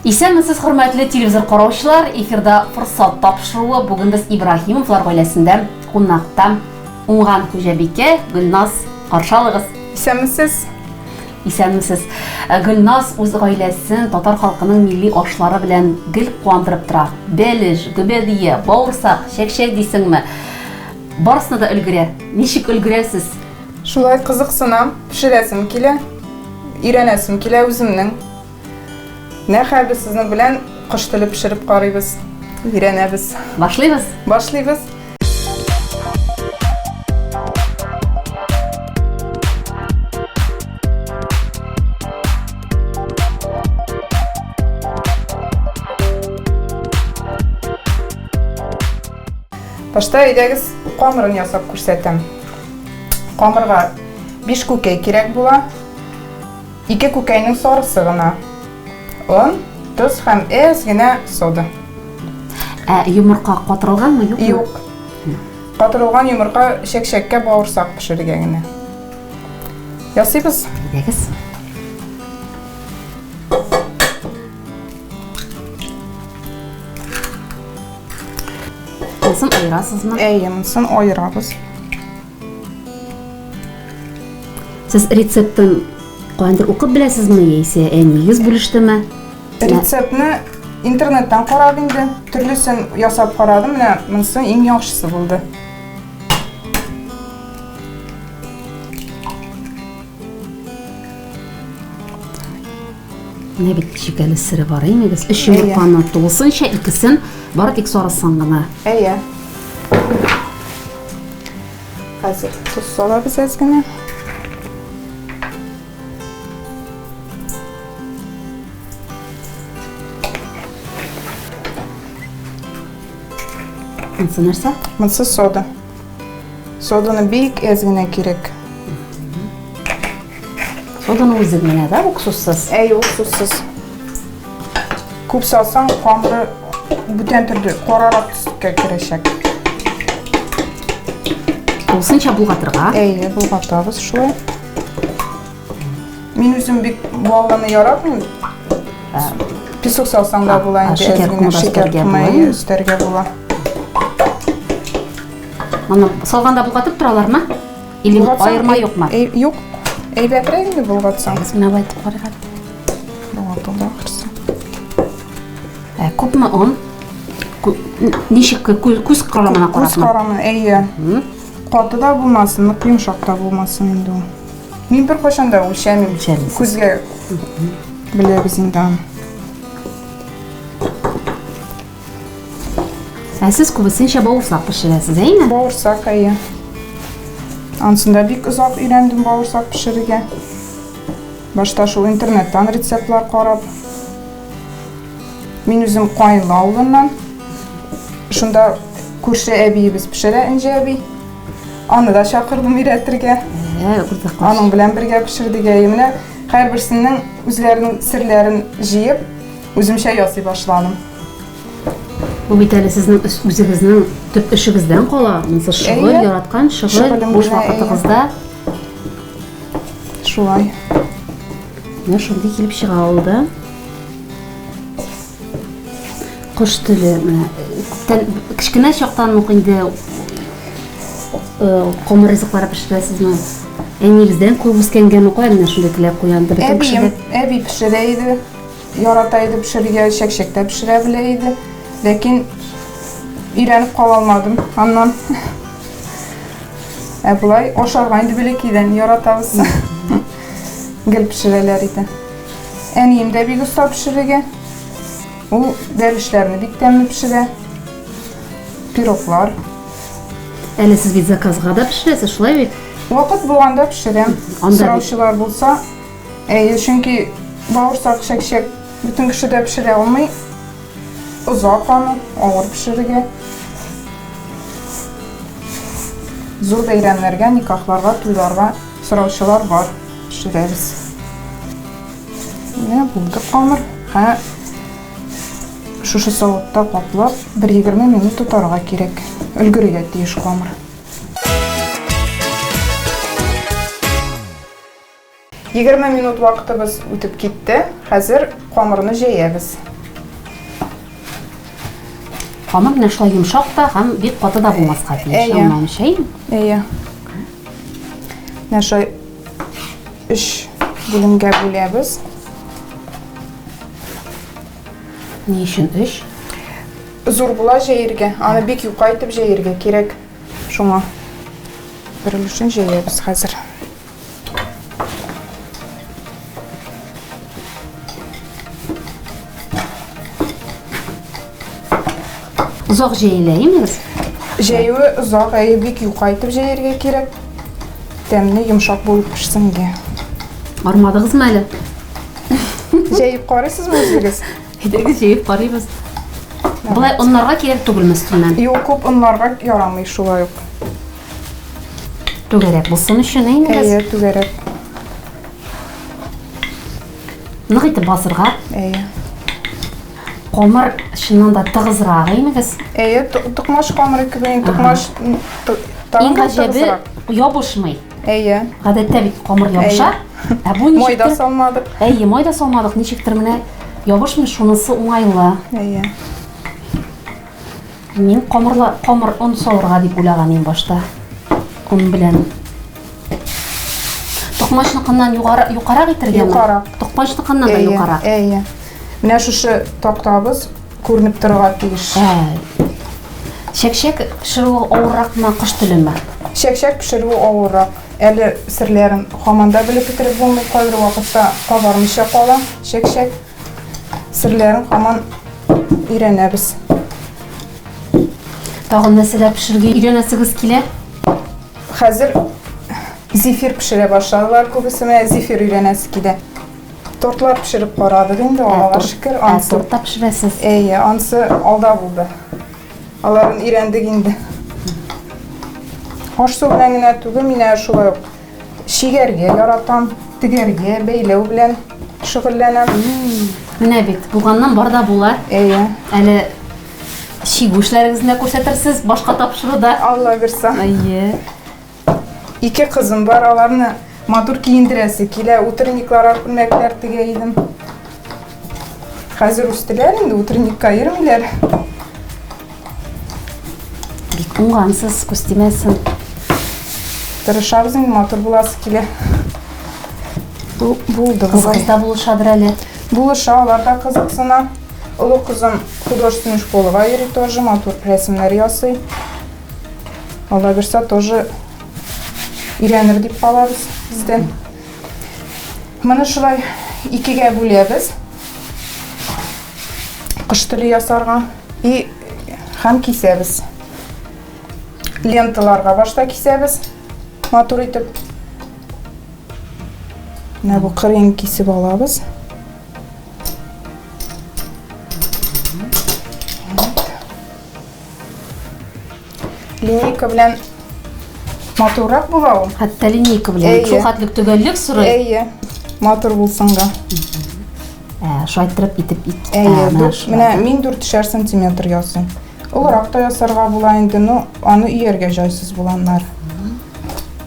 Исәнмесез хөрмәтле телевизор караучылар, эфирда форсат тапшыруы, бүген без Ибраһимовлар гаиләсендә кунакта. Уңган хуҗабикә Гөлназ каршы алыгыз. Исәнмесез. Исәнмесез. Э, Гөлназ үз гаиләсен татар халкының милли ашлары белән гел куандырып тора. Бәлеш, гөбәдия, бавырсак, чәкчәк дисеңме? Барысына да өлгерә. Ничек өлгерәсез? Шулай кызыксынам, пешерәсем килә, өйрәнәсем килә үземнең. Менә хәзер сезнең белән кош теле пешереп карыйбыз, өйрәнәбез. Башлыйбыз? Башлыйбыз. Башта әйдәгез камырын ясап күрсәтәм. Камырга биш күкәй кирәк була. Ике күкәйнең сарысы гына. Он, тоз һәм әз генә сода. Ә йомырка катырылганмы, юкмы? Юк. Катырылган йомырка чәкчәккә бавырсак пешерергә генә. Ясыйбыз. Әйдәгез. Монысын аерасызмы? Әйе, монысын аерабыз. Сез рецептын кайдыр укып беләсезме яисә әниегез бүлештеме? Рецептны интернеттан карап инде, төрлесен ясап карадым, менә монысы иң яхшысы булды. Менә бит шикәле сыре бар инегез. Өч йомырканы тулысынча, икесен бары тик сарысын гына. Әйе. Хәзер тоз салабыз әз генә. Монсы нәрсә? Монсы сода. Соданы бик әз генә кирәк. Соданы үзе генә да, уксуссыз. Әй, уксуссыз. Күп салсаң, камыры бүтән төрде, карарак төскә керәчәк. Тулысынча булгатырга. Әй, булгатабыз шулай. Мин үзем бик баллыны яратмыйм. Песок салсаң да була инде. Шикәр кумы өстәргә була. Өстәргә була. Аны салганда булгатып торалармы? Или аерма юкмы? Юк. Әйбәтрәк инде булгатсаң. Без менә байтып карыйбыз. Булгатылды ахырсы. Ә күпме он? Ничек күз карамына карасына? Күз карамына, әйе. Каты да булмасын, нык йомшак та булмасын инде ул. Мин беркайчан да үлчәмим. Күзгә беләбез инде аны. Ә сез күбесенчә бавырсак пешерәсез, әйме? Бавырсак, әйе. Ансын да бик озак өйрәндем бавырсак пешерергә. Башта шул интернеттан рецептлар карап. Мин үзем Каенлы авылыннан. Шунда күрше әбиебез пешерә, Энҗе әби. Аны да чакырдым өйрәтергә. Ә, уртаклаш. Аның белән бергә пешердек. Ә менә һәрберсенең үзләренең серләрен җыеп, үземчә ясый башладым. Бу бит әле сезнең үзегезнең төп эшегездән кала. Монысы шөгыль, яраткан шөгыль, буш вакытыгызда. Шулай. Менә шундый килеп чыга ул да. Кош теле менә күптән кечкенә чактан ук инде комыр ризыклар пешерәсезме? Әниегездән күп үскәнгәме кая менә шундый теләк куянды бөтен кешегә? Әби пешерә иде. Ярата иде пешерергә, чәкчәктә пешерә белә иде. Ләкин өйрәнеп кала алмадым аннан. Ә болай ашарга инде бәләкәйдән яратабыз. Гел пешерәләр иде. Әнием дә бик оста пешерергә. Ул бәлешләрне бик тәмле пешерә. Пироглар. Әле сез бит заказга да пешерәсез, шулай бит? Вакыт булганда пешерәм. Анда Сораучылар булса, әйе, чөнки бавырсак, чәкчәк бөтен кеше дә пешерә алмый. Озак аны, авыр пешерергә. Зур бәйрәмнәргә, никахларга, туйларга Сораучылар бар, пешерәбез. Менә булды камыр. Һә шушы савытта каплап 1-20 минут тотарга кирәк. Өлгерергә тиеш камыр. Егерме минут вакытыбыз үтеп китте. Хәзер камырны җәябез. Камыр менә шулай йомшак та һәм бик каты да булмаска тиеш. Әйе. Әйе. Менә шулай өч бүлемгә бүләбез. Ни өчен өч? Зур була җәергә. Аны бик юка итеп җәергә кирәк. Шуңа бер өлешен җәябез хәзер. Озак җәеләймез. Җәюе озак, әйе, бик юка итеп җәяргә кирәк. Тәмне йомшак булып пешсенге. Армадыгызмы әле? Җәеп карыйсызмы үзегез? Әйдәгез җәеп карыйбыз. Болай оннарга кирәк түгелме өстеннән? Юк, күп оннарга ярамый шулай ук. Түгәрәк булсын өчен инде. Әйе, түгәрәк. Нык итеп басырга. Әйе. Камыр чыннан да тыгызрак, әйме без? Әйе, тукмаш камыры кебек, инде тукмаш Иң гаҗәбе ябышмый. Әйе. Гадәттә бит камыр ябыша. Ә бу ничек? Майда салмадык. Әйе, майда салмадык, ничектер менә ябышмый, шунысы уңайлы. Әйе. Мин камырла, камыр он савырга дип уйлаган идем башта. Он белән. Токмачныкыннан югары юкарак итергәме? Юкарак. Токмачныкыннан да юкарак. Әйе. Менә шушы тактабыз күренеп торырга тиеш. Ә. Чәкчәк пешерүе авырракмы, кош телеме? Чәкчәк пешерүе авыррак. Әле серләрен хаманда белеп бетереп булмый, кайбер вакытта кабармыйча кала чәкчәк. серләрен һаман өйрәнәбез. Тагын нәрсәләр пешерергә өйрәнәсегез килә? Хәзер зефир пешерә башладылар күбесе, менә зефир өйрәнәсе килә. Тортлар пешереп карадык инде, Аллага шөкер. Ансы торт та пешерәсез. Әйе, ансы алда булды. Аларын өйрәндек инде. Аш су белән генә түгел, менә шулай ук Чигәргә яратам, тегәргә, бәйләү белән шөгыльләнәм. Менә бит, булганнан бар да була. Әйе. Әле чигү эшләрегезне күрсәтерсез башка тапшыруда. Алла бирса. Әйе. Ике кызым бар, аларны матур киендерәсе килә. Утренниклар, күлмәкләр тегә идем. Хәзер үстеләр инде, утренникка йөрмиләр. Бик уңгансыз, күз тимәсен. Тырышабыз инде, матур буласы килә. Бу булды. Кызларда булышадыр әле. Булыша, алар да кызыксына. Олы кызым художественный школага йөри тоже, матур рәсемнәр ясый. Алла бирса тоже өйрәнер дип калабыз бездән. Моны шулай икегә бүләбез. Кыш теле ясарга и һәм кисәбез. Ленталарга башта кисәбез. Матур итеп. Менә бу кырын кисеп алабыз. Линейка белән матуррак була ул. Хәтта линейка белән. Әйе. Шул хәтлек төгәллек сорый. Әйе. Матур булсын да. Ә, шайтырып итеп ит. Әйе, Ә, менә дүрт- шулай. менә мин дүрт шәр сантиметр ясыйм. Олырак та ясарга була инде, но аны өяргә җайсыз булганнар.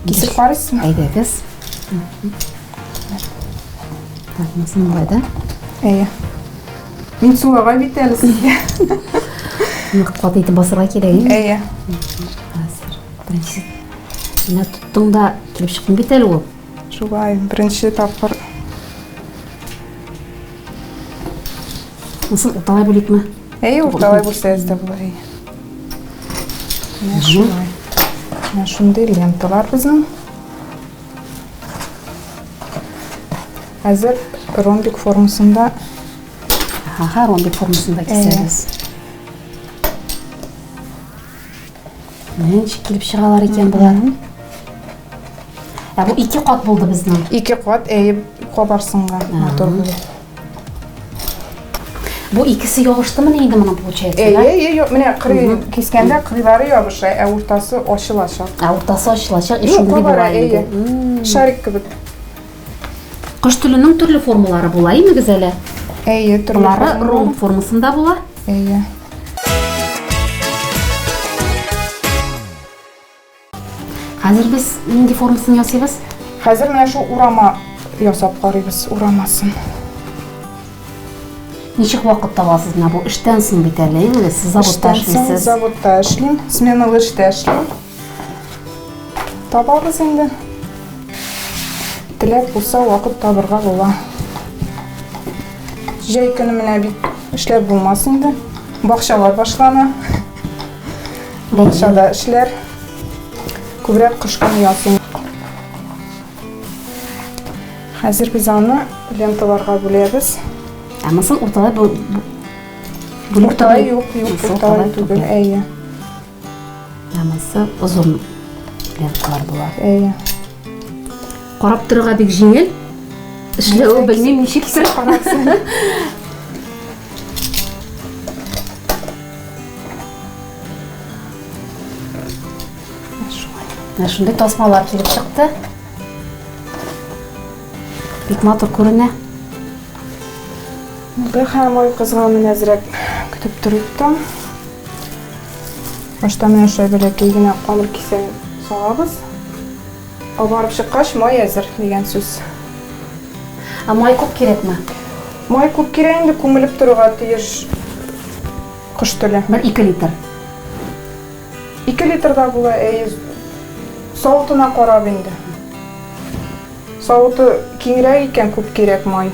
Кисеп карыйсызмы? Әйдәгез. Так, монысын болай да. Әйе. Мин сулага бит әле сезгә. Нык кат итеп басырга кирәк инде. Әйе. Хәзер. Беренче. Менә тоттың да килеп чыктың бит әле ул. Шулай, беренче тапкыр. Насыл урталай бүликме? Әйе, урталай бүлсәгез дә була. Әйе. Менә шулай. Менә шундый ленталар безнең. Хәзер ромбик формасында. Ага, ромбик формасында кисәбез. Менә чикилеп чыгалар икән болар. Ә бу ике кат булды безнең. Ике кат әйеп кабарсынга матур булды. Бу икесе ябыштымы ни инде моның получается? Әйе, әйе, юк, менә кырый кискәндә кырыйлары ябыша, ә уртасы ачылачак. Ә уртасы ачылачак, ишең булай. Шарик кебек. Кош теленең төрле формалары була, имегез әле. Әйе, төрле. Болары ром формасында була. Әйе. Хәзер без нинди формасын ясыйбыз? Хәзер менә шул урама ясап карыйбыз, урамасын. Ничек вакыт табасыз менә бу эштән соң бит әле, именно сез заводта эшлисез. Заводта эшлим, сменалы эштә эшлим. Табабыз инде. Теләк булса, вакыт табырга була. Җәй көне менә бит эшләп булмас инде. Бакчалар башлана. Бакчада эшләр. Күбрәк кыш көне ясыйм. Хәзер без аны ленталарга бүләбез. Ә мысын урталай бу... Урталай юк, юк, урталай түгел, әйе. Намысы озын лентлар була. Әйе. Карап торырга бик җиңел. Эшләве белмим ничектер. Менә шундый тасмалар килеп чыкты. Бик матур күренә. Бәхәм ой кызга мин әзрәк көтеп торыйк та. Башта менә шулай бәләкәй генә камыр кисәген салабыз. Кабарып чыккач, май әзер дигән сүз. Ә май күп кирәкме? Май күп кирәк инде, күмелеп торырга тиеш кош теле. Бер ике литр. Ике литр да була, әйе. Савытына карап инде. Савыты киңрәк икән, күп кирәк май.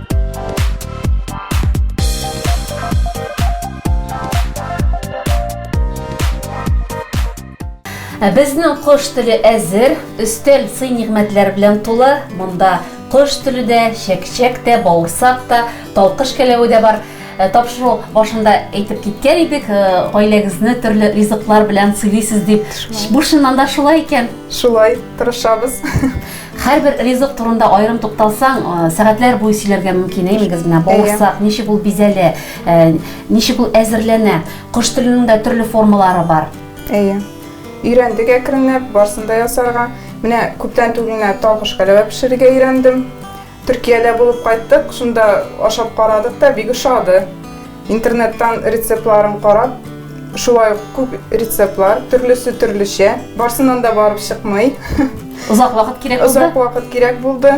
Безнең кош теле әзер, өстәл сый-нигъмәтләр белән тулы. Монда кош теле дә, чәкчәк тә, бавырсак та, талкыш кәләве дә бар. Э, тапшыру башында әйтеп киткән идек, э, гаиләгезне төрле ризыклар белән сыйлыйсыз дип. Бу чыннан да шулай икән. Шулай, тырышабыз. Һәрбер ризык турында аерым тукталсаң, сәгатьләр буе сөйләргә мөмкин, әй мигез менә бавырсак, ничек ул бизәлә, ничек ул әзерләнә. Кош теленең дә төрле формалары бар. Әйе. Өйрәндек әкренләп, барсын да ясарга. Менә күптән түгел генә талгыш кәләвә пешерергә өйрәндем. Төркиядә булып кайттык, шунда ашап карадык та, бик ошады. Интернеттан рецептларын карап, шулай ук күп рецептлар, төрлесе төрлечә. Барсыннан да барып чыкмый. Озак вакыт кирәк булды? Озак вакыт кирәк булды.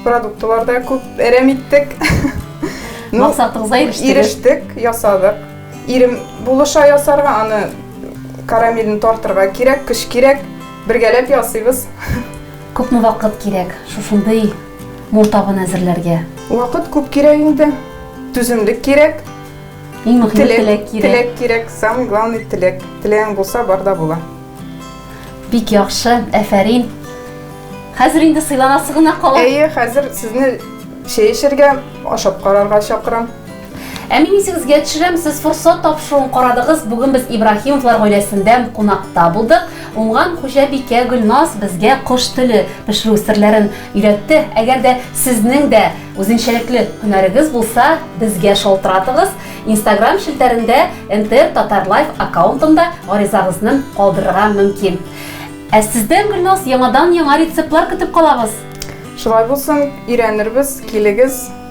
Продуктлар да күп әрәм иттек. Максатыгызга ирештек. Ирештек, ясадык. Ирем булыша ясарга, аны карамелен тартырга кирәк, көч кирәк. Бергәләп ясыйбыз. Күпме вакыт кирәк шушындый Мул табын әзерләргә. Вакыт күп кирәк инде, түземлек кирәк. Иң мөһиме теләк кирәк. Теләк кирәк, самый главный теләк. Теләгең булса, бар да була. Бик яхшы, әфәрин. Хәзер инде сыйланасы гына кала. Әйе, хәзер сезне чәй эчәргә, ашап карарга чакырам. Ә мин исегезгә төшерәм, сез форсат тапшыруын карадыгыз, бүген без Ибраһимовлар гаиләсендә кунакта булдык. Уңган хуҗабикә Гөлназ безгә кош теле пешерү серләрен өйрәтте. Әгәр дә сезнең дә үзенчәлекле һөнәрегез булса, безгә шалтыратыгыз. Инстаграм челтәрендә НТР Татарлайф аккаунтында гаризагызны калдырырга мөмкин. Ә сездән, Гөлназ, яңадан-яңа рецептлар көтеп калабыз! Шулай булсын, өйрәнербез, килегез!